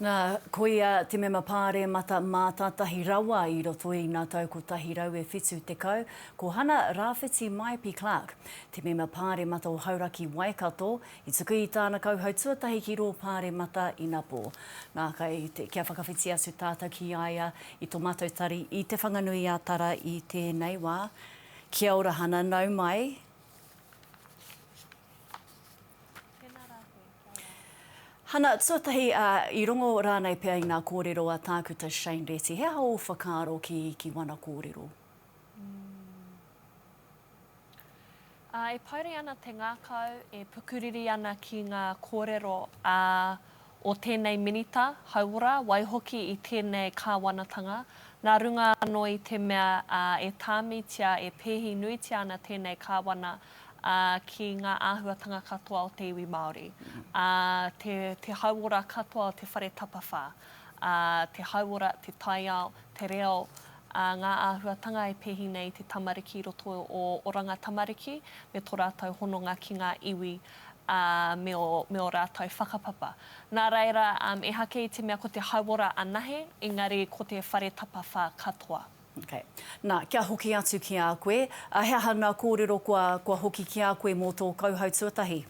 Na, ko ia te mema Pāremata mātātahi rawa i roto i ngā tau 170, ko Hana Rawhiti Maepi Clark, te mema Pāremata o Hauraki Waikato, i tuku i tāna kauhau tuatahi ki rō Pāremata ina pō. Na, kai te, kia whakawhiti atu tātou ki a ia i tō mātou tari i Te Whanganui-a-Tara i tēnei wā. Kia ora Hana, nau mai. Tēnā rā koe. Hana tuatahi, ā, i rongo rānei pea i ngā kōrero a Tākuta Shane Reti. He aha ō whakaaro ki, ki wana kōrero? Ā, e pouri ana te ngākau, e pukuriri ana ki ngā kōrero, ā, o tēnei Minita hauora, waihoki i tēnei Kāwanatanga, nā runga anō i te mea, ā, e tāmitia, e pēhi nuitia ana tēnei Kāwana ā, ki ngā āhuatanga katoa o te iwi Māori, ā, te, te hauora katoa o te whare tapawhā, ā, te hauora, te taiao, te reo, ā, ngā āhuatanga e pēhi nei i te tamariki i roto i ō oranga tamariki me tō rātou hononga ki ngā iwi, ā, me ō, me ō rātou whakapapa. Nā reira, ehake i te mea ko te hauora anahe, engari ko te whare tapawhā katoa. Okay. Na, kia hoki atu ki a koe, he aha nga korero kua, kua hoki ki a koe mo to kauhau tuatahi?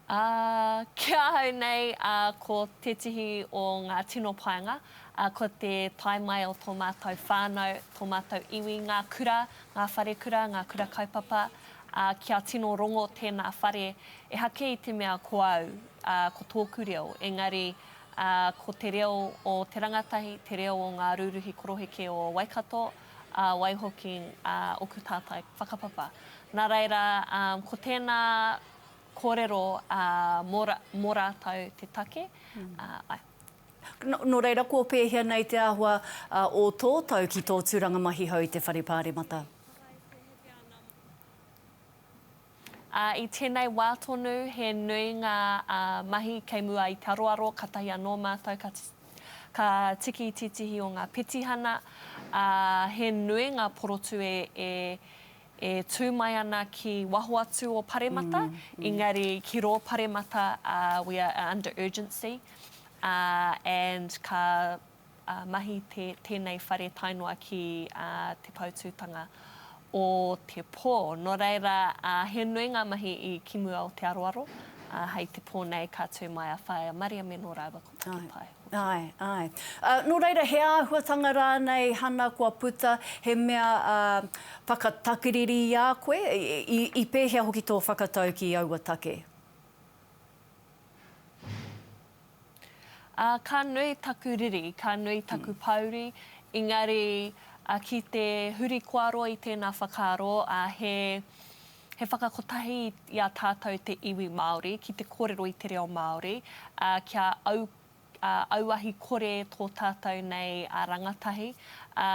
Ah, ki ahau nei, ah, ko tetihi o nga tino paenga, ah, ko te tae mai o to matou whanau, to matou iwi, nga kura, nga wharekura, nga kura kaupapa, ah, kia tino rongo tena whare, ehake i te mea ko au, ah, ko toku reo, engari, ā, ko te reo o te rangatahi, te reo o ngā rūruhi koroheke o Waikato, ā, waihoki ā oku tātai whakapapa. Nā reira, ā, ko tēnā kōrero ā, mō, mō rātou te take, ā, ae. Nō reira, kua pēhea nei te āhua ā, o tō tau ki tō tūranga mahi hou i te Whare Pāremata? Ā, i tēnei wā tonu, he nui ngā mahi kei mua i te aroaro, kātahi anō mātou ka ka tiki tītihi o ngā petihana, ā, he nui ngā porotū e, e, e tū mai ana ki waho atu o Paremata, engari ki rō Paremata, ā, we are under urgency, ā, and ka mahi tēnei whare tae noa ki te poutūtanga o te pō. Nō reira, he nui ngā mahi ki mua o te aroaro, ā, hei te pō nei ka tū mai a Whaea Mariame nō rāua ko Taki Pae. Āe, āe. Nō reira, he āhuatanga rānei, Hana, kua puta, he mea whakatakiriri i a koe? I pēhea hoki tō whakatau ki aua take? Ā, ka nui taku riri, ka nui taku pōuri, engari ki te huri kōaro i tēnā whakaaro, ā, he, he whakakotahi i a tātou te iwi Māori ki te kōrero i te reo Māori, ā, kia au, ā, auahi kore tō tātou nei rangatahi, ā,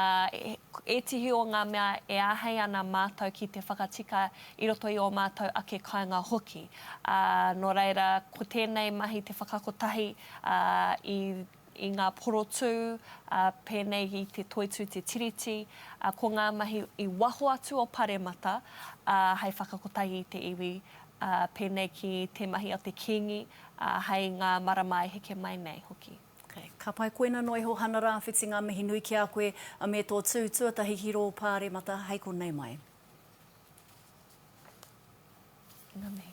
ētihi o ngā mea e āhei ana mātou ki te whakatika i roto i ō mātou ake kāinga hoki, ā, nō reira, ko tēnei mahi te whakakotahi, ā, i, i ngā porotū, ā, pēnei i te Toitū Te Tiriti, ā, ko ngā mahi i waho atu o Paremata, ā, hei whakakotahi i te iwi, ā, pēnei ki te mahi a te Kīngi, ā, hei ngā marama e heke mai nei hoki. Okay. Ka pai koina noa iho Hana Rawhiti nga mihi nui ki a koe me to tu tuatahi ki ro Paremata hei konei mai. Nga mihi.